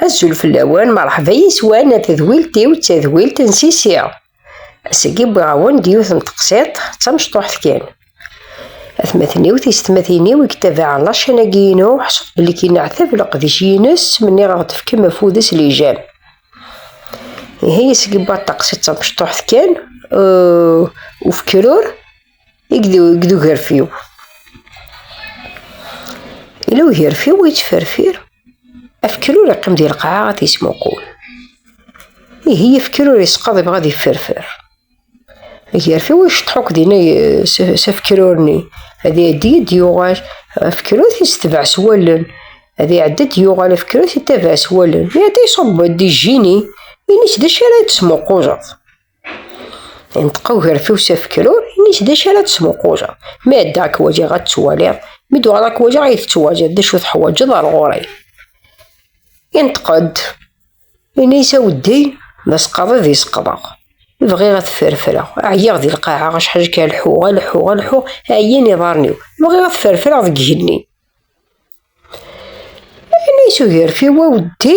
Azul fell-awen, merḥba yiswan a tedwilt-iw d tadwilt n Sisi. Ass-agi wwiɣ-awen-d yiwet n teqsiṭ d tamecṭuḥt kan. Atmaten-iw, tisetmatin-iw i yettabaɛen lačan-agi-inu, ḥṣut belli k-ineɛtab leqdic-ines mi nniɣ ad ɣ-d-fkem afud s lijam. Ihi ass-agi wwiɣ-d taqsiṭ d tamecṭuḥt kan, ufkrur. i ged ugerfiw ila ugerfiw yettferfir afekru ur iqqim di lqaɛa ad yesmuqul ihi afekru ur yesqaḍ ibɣa ad yefferfer agerfiw iceṭṭeḥ akk dinna s afekrurni ad iɛeddi ad yuɣal afekrut yestebaɛ s wallen ad iɛeddi ad yuɣal afekrut yettabaɛ s wallen iɛedda iṣubb-d ijini ini-tt d acu ara d-tesmuquleḍ Inṭeq ugerfiw s afekrur, ini-s d acu ara d-smuquleɣ. Mi ad ddaɣ k-wajiɣ ad ttwaliɣ, mi d-uɣaleɣ k-wajiɣ ad yi-tettwajiḍ, d acu teḥwaǧeḍ ar ɣur-i? Inṭeq-d, ini-s aweddi d asqaḍid i seqḍeɣ. Bɣiɣ ad t-ferfreɣ, ɛyiɣ di lqaɛa, acḥal kan lḥuɣ, a lḥuɣ, a lḥuɣ, ɛyan iḍarren-iw. Bɣiɣ ad t-ferfreɣ deg igenni. Ayen i tugerfi wa weddi,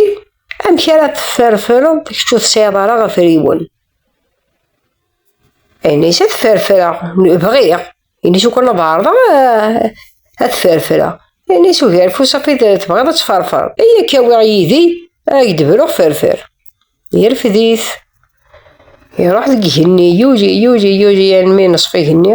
amek ara tefferfereḍ kečč ur tesɛiḍ ara ɣef riwen? Ayen i tefferfereɣ, bɣiɣ, ayen i tukan ad ɛerḍeɣ ad tefferfereɣ. Ayen i tugerfi usafiḍ tebɣiḍ ad tefferfereḍ, i akka awiɣ yid-i, ad ak-d-bruɣ ferfer. Yerfed-it, iruḥ deg igenni, yuli, yuli, yuli, almi neṣf igenni.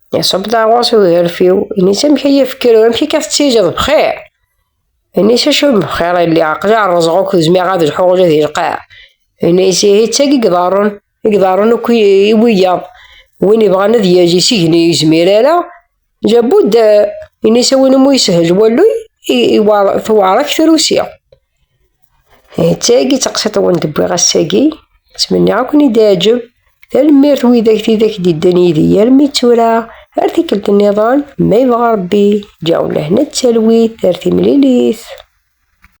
Iṣubb-d aɣur-s ugerfiw, ini-s amek ay ifekru, amek akka tettiǧeḍ bxir? Ini-s acu bxir ay lliɣ, aql-i rreẓeɣ akk zmiɣ ad lḥuɣ ula di lqaɛ. Ini-s ihi d tagi i iḍerrun, i iḍerrun akk i wiyaḍ. Win ibɣan ad yaj isigni ur yezmir ara, jabud, ini-s a win umi yeshel walluy, tewɛer-ak trusi. Tagi d taqsiṭ i wen-d-wwiɣ ass-agi. Ttmenniɣ ad ken-id-iɛǧeb. Tanemmirt widak tidak d-iddan yid-i armi d tura. Ar tikkelt nniḍen, ma yebɣa Rebbi, ǧǧiɣ-wen lehna d talwit ar timlilit.